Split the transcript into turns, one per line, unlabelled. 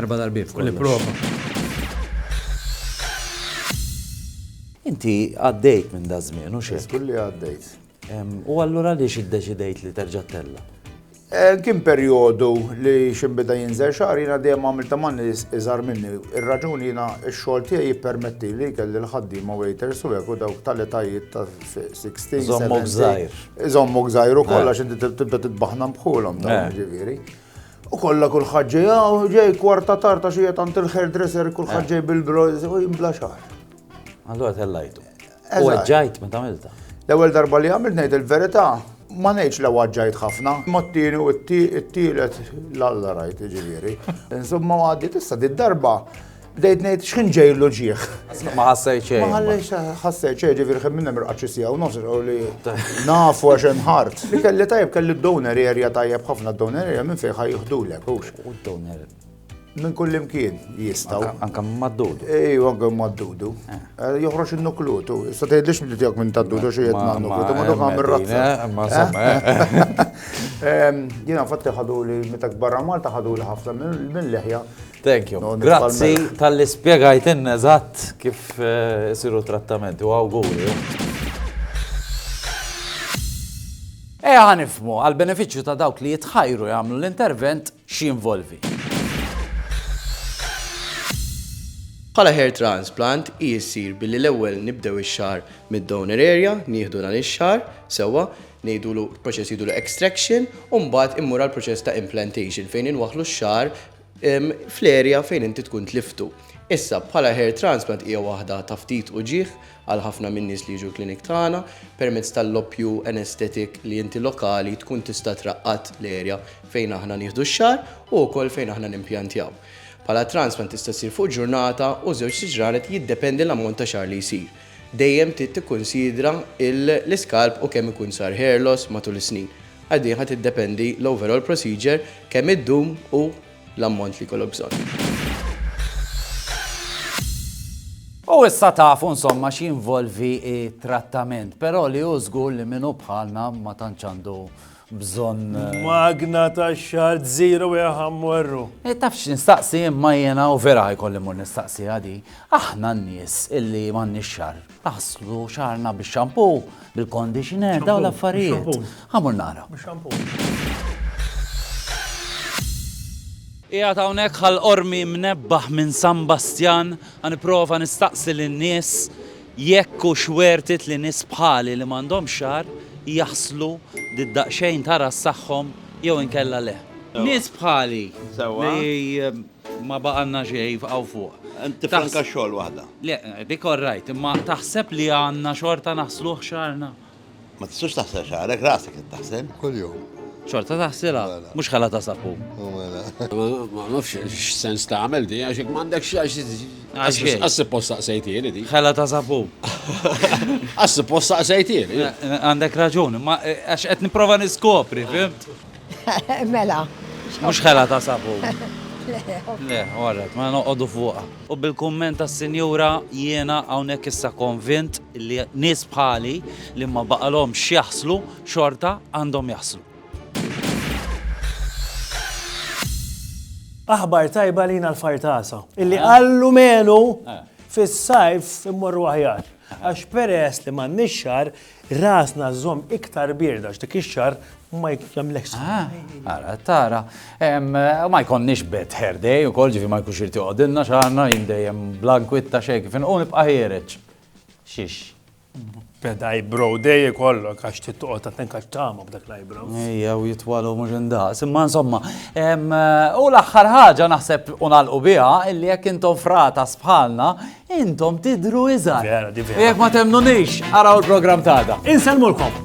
Erba
darbiet kollox. Nipprova. Inti għaddejt minn da żmien, u xi? Żgur li għaddejt.
U
allura għaliex iddeċidejt li terġa' tella? Eh, kien
perjodu li ximbida jinżel xar, jina dejjem għamil ta' manni iżar minni. Ir-raġuni jina x-xogħol tiegħi jippermetti li kelli l-ħaddiema waiters u hekk u dawk tal-etajiet ta' 16. Żommok żgħir.
Żommok żgħir u
kollha xi tibda titbaħna bħulhom ta' eh. ġifieri. U kollha kulħadd ġej hawn, ġej kwarta tard għax hija tant il-hairdresser kulħadd eh. ġej bil-broz u jimbla xar. Allura
tellajtu. U għagġajt meta għamilta. L-ewwel darba li
għamilt ngħid il-verità, ma ngħidx l għagġajt ħafna, ma t-tieni u t-tielet l-alla rajt ġifieri. Insomma għaddi tista' di darba Bdejt ngħid x'ħin ġejlu ġieħ. Ma ħassej
xejn. Ma ħallejx ħassej
xejn ġifieri ħin minna mirqaċċi sija u nofs li nafu għax hemm ħart. Li kelli tajjeb kelli d-donor area tajjeb ħafna d-donor area minn fejn ħaj jiħdulek hux. U d-donor
minn kull
imkien jistaw. Anka maddudu.
Ej, anka
maddudu. Eh. Eh, joħroġ il-nuklutu. Issa tgħidlix li tiegħek minn taddudu xi qed ma' nuklutu, ma dok għamil razza. Jiena fatti ħadu li meta barra Malta ħadu li ħafna mill-leħja Thank you.
Grazzi tal-li spiegajtin eżatt kif eh, isiru trattamenti u għawguri. Eja eh, ħanifmu għal-beneficju ta' dawk li jitħajru jagħmlu l-intervent x'jinvolvi.
Bħala hair transplant jissir billi l-ewwel nibdew ix-xar mid-donor area, nieħdu dan ix-xar sewwa, ngħidulu proċess jidulu extraction u mbagħad immur għal proċess ta' implantation fejn inwaħlu x-xar fl-area fejn inti tkun tliftu. Issa, bħala hair transplant hija waħda ta' ftit uġigħ għal ħafna min-nies li jiġu l-clinic tagħna, permezz tal-loppju anesthetic li inti lokali tkun tista' traqqad l-area fejn aħna nieħdu x-xagħar u wkoll fejn aħna nimpjantjaw. Bħala transplant tista' ssir fuq ġurnata u żewġt ġranet jiddependi l-ammont ta' xagħar li jsir. Dejjem trid tikkunsidra l-iskalp u kemm ikun sar hair loss matul is-snin. Għal din ħa tiddependi l-overall procedure, kemm iddum u l-ammont li jkollok bżonn.
U issa tafu insomma x'jinvolvi t-trattament, però li hu żgur li min hu bħalna ma tantx għandu bżonn. Magna
ta' xart zero ja ħammorru. E tafx nistaqsi
imma jiena u vera ħajkolli mur nistaqsi għadi. Aħna n-nies illi m'għandniex xar. Naħslu xarna bix-xampu, bil-conditioner, daw l-affarijiet. Ħamur nara. Ija hawnhekk ħal ormi mnebbaħ minn San Bastjan, ħaniprova nistaqsi lin-nies Jekk hux worth it li nies bħali li m'għandhomx xagħar jaħslu di daqxejn ta' ras tagħhom jew inkella le. Nies bħali li ma baqalna xejn jibqgħu fuq. Inti franka xogħol
waħda. Le, dik all
right, imma taħseb li għandna xorta naħsluh xagħarna? Ma tistax
taħsel xagħrek, rasek qed taħsel. Kuljum.
Xorta taħsilha,
mhux ħala ta' sapun. U mela.
Ma nafx x'sens tagħmel di għax jekk m'għandekx għax Għax xejn. għassi posta sejtieli di. Ħela ta' sapun. Għassi posta sejtieli. Għandek raġun,
ma eh, għax qed nipprova niskopri, fimt? Mela.
Mhux
ħela ta' sapun. Le, orret, ma noqogħdu fuqha. U bil-kumment tas-sinjura jiena hawnhekk issa konvint li nies bħali li ma baqalhomx x'jaħslu xorta għandhom jaħslu.
Aħbar tajba lina l-fartasa. Illi qallu menu fis-sajf immorru aħjar. Għax peress li m'għandniex xar, Rasna żomm iktar bierda x'dik ix-xahar ma jagħmlekx ah, Ara,
tara, ma jkonniex bet hair day ukoll ġifi ma jkunx irti qogħdilna xaħna jien dejjem blankwitta xejn kif inqu nibqa' ħiereġ. Xiex.
Beda bro day kollok għax titqgħod ta' tenka tama b'dak l-eyebrow. Ejja u jitwalu
mhux indaqs, imma insomma, u l-aħħar ħaġa naħseb u nagħlqu biha illi jekk intom frata sbħalna Intom tidhru iżgħar. Vera, di vera. Jekk ma temmnunix, araw il-programm ta' għada. Insellmulkom!